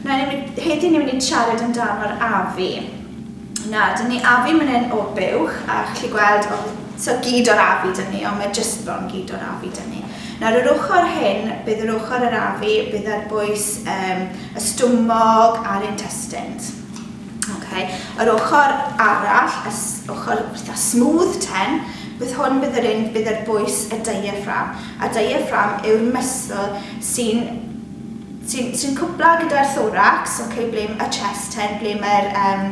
Na, ni, heddi ni'n mynd i siarad amdano'r afu. Na, dyn ni afu mynd yn o'r buwch a chi gweld o, so gyd o'r afu dyn ni, ond mae jyst bron gyd o'r afu dyn ni. Nawr yr ochr hyn, bydd yr ochr yr afu, bydd ar bwys um, y stwmog a'r intestines. Okay. Yr ochr arall, y ochr fatha smooth ten, bydd hwn bydd yr un bydd ar bwys y diaphragm. A diaphragm yw'r muscle sy'n Ti'n ti'n cwpla gyda'r thorax, ok, ble m- y chest ten, ble mae'r yym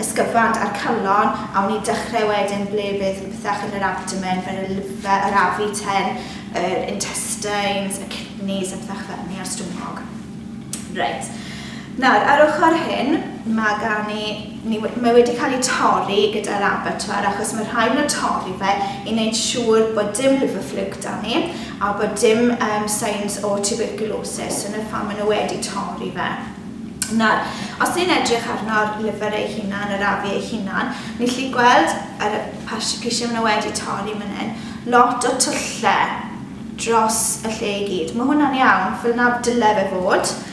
ysgyfant a'r calon, a wn i'n dechrau wedyn ble fydd pethach yn yr abdomen fel y liver, yr afu ten, yr intestines, y kidneys a pethach fel 'ny a'r stumog. Reit nawr ar ochr hyn ma' gan ni Ni, mae wedi cael ei torri gyda'r abattoir achos mae rhaid nhw torri fe i wneud siŵr bod dim liver fluke da ni a bod dim um, signs o tuberculosis, so na pham maen nhw wedi torri fe. Nawr, os ni'n edrych arno'r liver ei hunan, yr afu ei hunan, ni'n lli gweld yr parsicrisiau maen nhw wedi torri fan hyn, lot o tyllau dros y lle i gyd. Mae hwnna'n iawn, fel na dyle fe fod,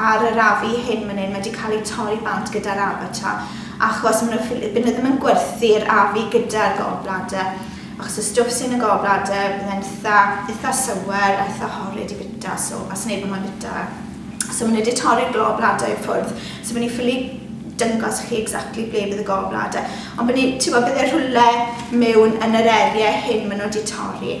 Ar yr AV hyn man hyn mae 'di cael ei torri bant gyda'r Avatar achos maen nhw'n ffili... by' nhw ddim yn gwerthu'r AV gyda'r gallbladder achos y stwff sy yn y gallbladder bydd e'n itha itha sour a itha horrid i bita so a sneb yn moyn bita fe. So maen nhw 'di torri'r gallbladder i ffwrdd so by' ni'n ffili dangos chi exactly ble bydd y gallbladder ond by' ni... timod bydd e rhywle mewn yn yr area hyn maen nhw 'di torri.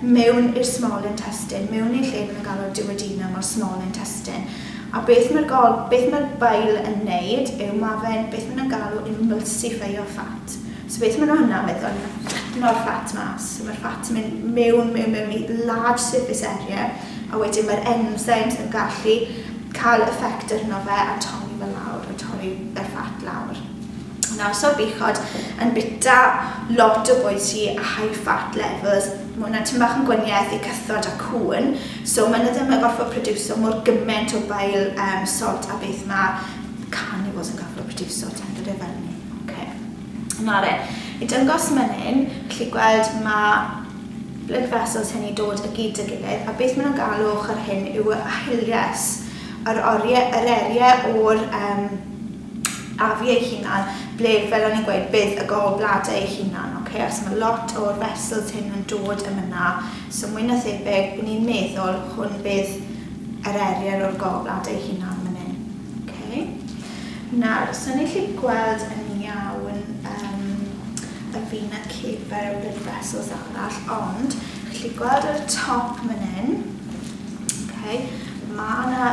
mewn i'r small intestine, mewn i'r lle maen nhw'n galw'r duodenum o'r small intestine. A beth mae'r gol, beth mae'r bile yn neud yw mae fe'n beth maen nhw'n galw emulsifeio ffat. So beth maen nhw hwnna'n meddwl, mae'n fflatno'r ffat mas. So mae'r ffat yn mynd mewn, mewn, mewn i large surface area, a wedyn mae'r enzymes yn gallu cael effect arno fe a torri fe lawr, a torri y ffat lawr. Nawr so bechod yn bita lot o bwyd sy a high fat levels, mae hwnna'n tyn bach yn gwanieth i cythod a cŵn, so maen nhw ddim yn gorfod produso mor gymaint o bile um, salt a beth mae carnivores yn gorfod produso, ti'n dod e fel ni. Okay. Nawr e, i dyngos mynnyn, chi gweld mae blood vessels hynny dod y gyd y gilydd, a beth maen nhw'n galw ochr hyn yw y hilias, yr, oriau, yr eriau o'r um, a fi ei hunan ble fel o'n i'n gweud bydd y gol blade ei hunan ok achos mae lot o'r vessels hyn yn dod yn yna so mwy na thebyg i ni'n meddwl hwn bydd yr erier o'r gol blade ei hunan fan hyn ok nawr so ni'n chi gweld yn iawn um, y fina ceber y blood vessels arall ond chi gweld ar y top fan hyn ok mae yna